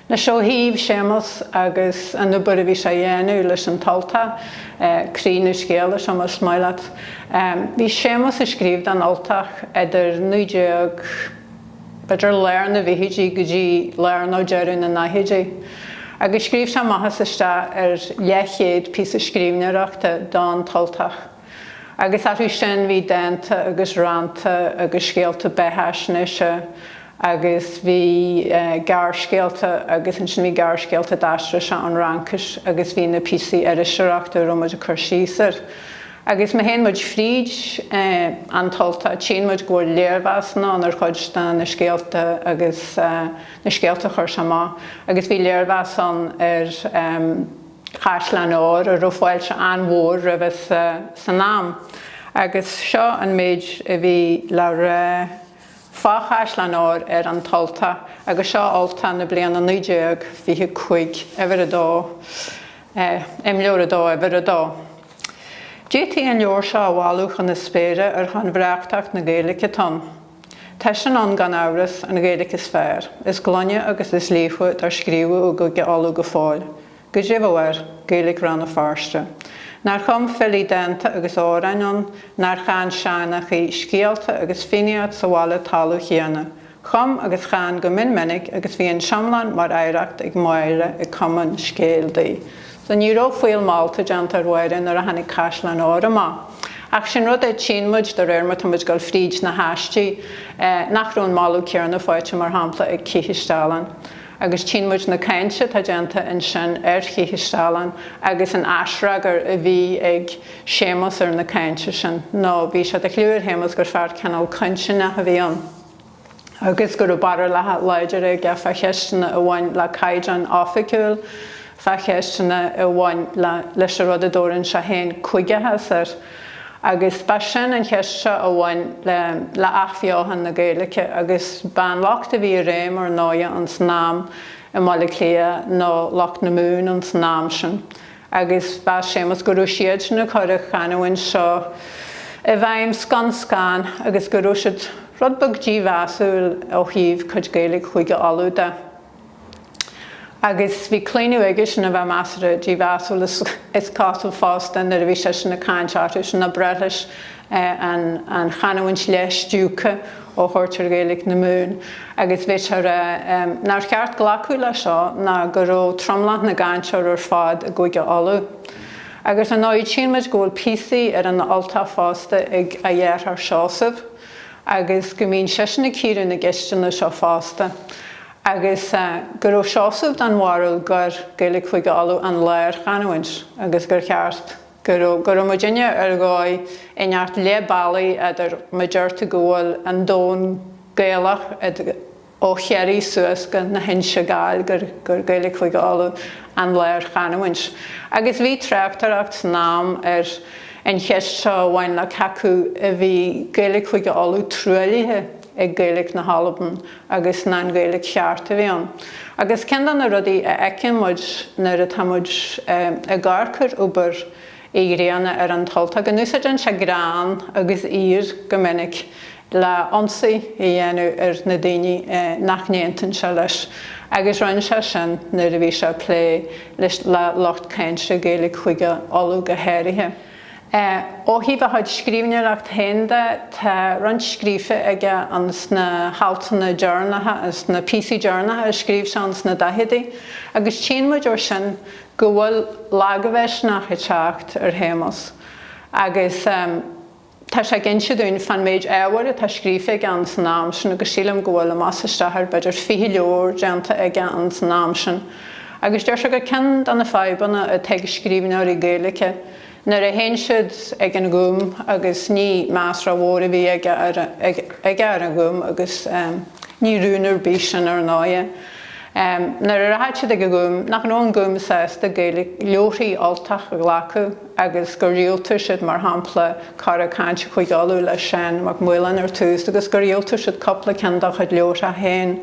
Anois ó thaobh Séamus agus an obair a bhí sé a dhéanamh leis an tUltach, croí na scéala, seo más maith leat. Bhí Séamus ag scríobh don Ultach idir 19, b'fhéidir lár na bhfichidí go dtí lár nó deireadh na ndaichidí. Agus scríobh sé amach is isteach ar leathchéad píosa scríbhneoireachta don tUltach. Agus orthu sin bhí dánta agus rannta agus scéalta beathaisnéise agus bhí gearrscéalta agus ansin bhí gearrscéalta d'aistrigh sé ón Fhraincis agus bhí na píosaí iriseoireachta a raibh muid ag cur síos air. Agus má théann muid fríd An tUltach tchíonn muid go bhfuil léirmheasanna ann ar chuid de na scéalta agus na scéalta a chuir sé amach agus bhí léirmheas ann ar Chaisleáin Óir a raibh fáilte an-mhór roimhe san am agus seo an méid a bhí le rá fá Chaisleáin Óir ar An tUltach agus seo Ultach na bliana 1925, Uimhir 2, Imleabhar 2, Uimhir 2. D'fhéadfaí an leabhar seo a mholadh chun na spéire ar shon bhreághthacht na Gaeilge atá ann. Tá sin ann gan amhras, an Ghaeilge is fearr, is glaine agus is líofa dár scríobhadh i gCúige Uladh go fóill. Goidé a bheadh air, Gaeilge Rann na Feirste. Nár chum filí dánta agus amhráin ann, nár chan seanchaí scéalta agus fiannaíocht sa bhaile talamh chéanna. Chum agus chan go mion minic agus bhí an t-iomlán mar oidhreacht ag Máire ag cumadh an scéil di. So ní raibh fuíoll molta déanta ar Mháire nuair a tháinig Caisleáin Óir amach. Ach sin rud é, tchíonn muid de réir mar atá muid ag dul fríd na haistí, nach raibh an moladh céanna faighte, mar shampla, ag Cith is Dealán. Agus tchíonn muid na cáinte atá déanta ansin ar Cith is Dealán agus an aisfhreagar a bhí ag Séamus ar na cáinte sin. Nó bhí sé de chliú ar Shéamus gur fear cineál cointinneach a bhí ann. agus go raibh barúlacha láidre aige fá cheisteanna a bhain le caighdeán oifigiúil, fá cheisteanna a bhain leis an rud a dtabharann sé féin 'cúigeachas' air. Agus ba sin an cheist seo a bhain le athbheochan na Gaeilge agus ba an lucht a bhí i réim ar ndóighe ins an am i mBaile Átha Cliath ná lucht na Mumhan ins an am sin. agus mheas Séamus go raibh siadsan ag cur an chanúint seo i bhfeidhm scun scan agus go raibh siad rud beag dímheasúil ó thaobh cuid Gaeilge Chúige Uladh de. Agus bhí claonadh aigesean a bheith measartha dímheasúil is cosúil fosta nuair a bhí seisean ag caint orthusan ná breith leis an an chanúint leath stiúgtha a thabhairt ar Ghaeilge na Mumhan agus bhí sé a rá nár cheart glacadh le seo ná go raibh tromlach na gcainteoir ar fad i gCúige Uladh. Agus ar ndóighe tchíonn muid go bhfuil píosaí ar An tUltach fosta ag a dheartháir Seosamh agus go mbíonn seisean ag cíoradh na gceisteanna seo fosta agus go raibh Seosamh den bharúil gur Gaeilge Chúige Uladh an lárchanúint agus gur cheart Go raibh go raibh muidinne ar dhóigh inteacht leath bealaigh eadar mar a déarfá go bhfuil an domhan Gaelach ó Chiarraí suas go na hInse Gall gur gur Gaeilge Chúige Uladh an lárchanamhaint. Agus bhí tráchtaireacht san am ar an cheist seo a bhain le cé acu a bhí Gaeilge Chúige Uladh truaillithe. ag Gaeilge na hAlban agus an an Ghaeilge cheart a bhí ann agus ceann de na rudaí a fheiceann muid nuair atá muid ag amharc ar obair Uí Ghrianna ar An tUltach go n-úsáideann sé greann agus aoir go minic le ionsaí a dhéanamh ar na daoine nach n-aontaíonn sé leis agus rinn sé sin nuair a bhí sé ag plé le lucht cáinte Gaeilge Chúige Uladh go háirithe. Ó thaobh a chuid scríbhneoireacht féin de, tá roinnt scríofa aige ins na haltanna deireanacha, ins na píosaí deireanacha a scríobh sé ins na daicheadaí, agus tchíonn muid ó sin go bhfuil lagmhisneach ag teacht ar Shéamus agus tá sé ag inse dúinn fán méid ábhair atá scríofa aige ins an am sin agus sílim go bhfuil, amach is isteach ar, b'fhéidir fiche leabhar déanta aige ins an am sin. Agus deir sé gur ceann de na fadhbanna atá ag scríbhneoirí Gaeilge nuair a théann siad ag an Gúm agus ní meas rómhór a bhí aige ar an Ghúm agus ní rún ar bith sin ar ndóighe. Nuair a rachadh siad ag an Gúm nach raibh an Gúm sásta Gaeilge leabharthaí Ultach a ghlacadh agus gur dhiúltaigh siad mar shampla Cora Cainte Chúige Uladh le Seán Mac Maoláin ar tús agus gur dhiúltaigh siad cupla ceann dá chuid leabhartha féin.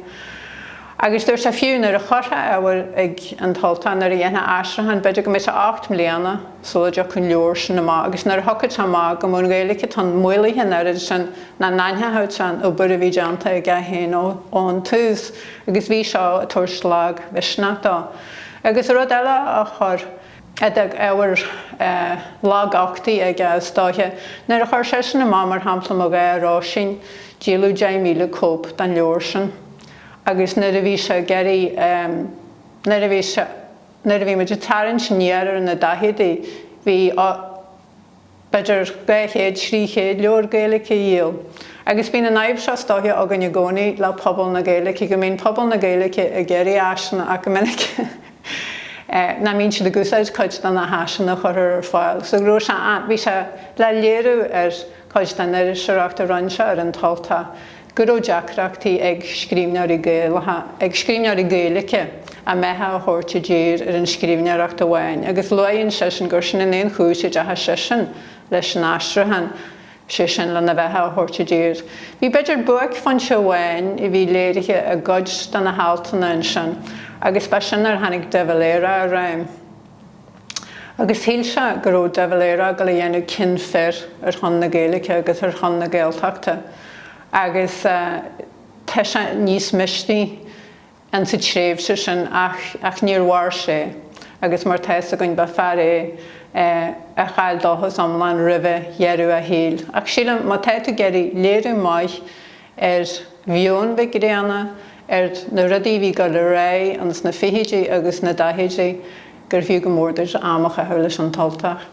Agus dúirt sé fiú nuair a chuirfeá ábhar ag An tUltach, nuair a dhéanfá aistriúchán, b'fhéidir go mbeadh sé ocht mbliana sula dtiocfadh an leabhar sin amach agus nuair a thiocfadh sé amach go mbeadh an Ghaeilge atá ann maolaithe an oiread sin nach n-aithneofaí an obair a bhí déanta aige féin ón tús agus bhí seo ag tabhairt lagmhisneach dó. Agus rud eile a chuir, a d'fhág ábhar laguchtaigh aige is dóiche, nuair a chuir seisean amach mar shampla Mo Dhá Róisín, díoladh 10,000 cóip den leabhar sin. Agus nuair a bhí sé ag éirí, nuair a bhí sé, nuair a bhí muid ag tarraingt aniar ar na daichidí, bhí, á, b'fhéidir dhá chéad, thrí chéad leabhar Gaeilge á dhíol. Agus bíonn an fhadhb seo is dóiche againn i gcónaí le pobal na Gaeilge, go mbíonn pobal na Gaeilge ag iarraidh áiseanna ach go minic nach mbíonn siad ag úsáid cuid de na háiseanna a chuirthear ar fáil. So go raibh sé, bhí sé le léiriú ar chuid den iriseoireacht a rinne sé ar An tUltach. go raibh deacrachtaí ag scríbhneoirí Gaelacha, ag scríbhneoirí Gaeilge, a mbeatha a thabhairt i dtír ar an scríbhneoireacht amháin agus luann seisean gur sin an aon chúis a ndeachaigh seisean leis an aistriúchán, sé sin, lena bheatha a thabhairt i dtír. Bhí b'fhéidir buaicphointe amháin a bhí léirithe i gcuid de na haltanna ansin agus ba sin nuair a tháinig De Valera i réim. agus shíl sé go raibh De Valera ag gabháil a dhéanamh cion fir ar shon na Gaeilge agus ar shon na Gaeltachta agus tá sé níos misniúla in sa tréimhse sin ach ach níor mhair sé agus mar tá 'fhios againn ba fear é a chaill dóchas iomlán roimhe dheireadh a shaoil ach sílim má tá tú ag iarraidh léiriú maith ar mheon Mhic Grianna, ar na rudaí a bhí ag dul ar aghaidh ins na fichidí agus na daichidí, gur fiú go mór duit am a chaitheamh leis An tUltach.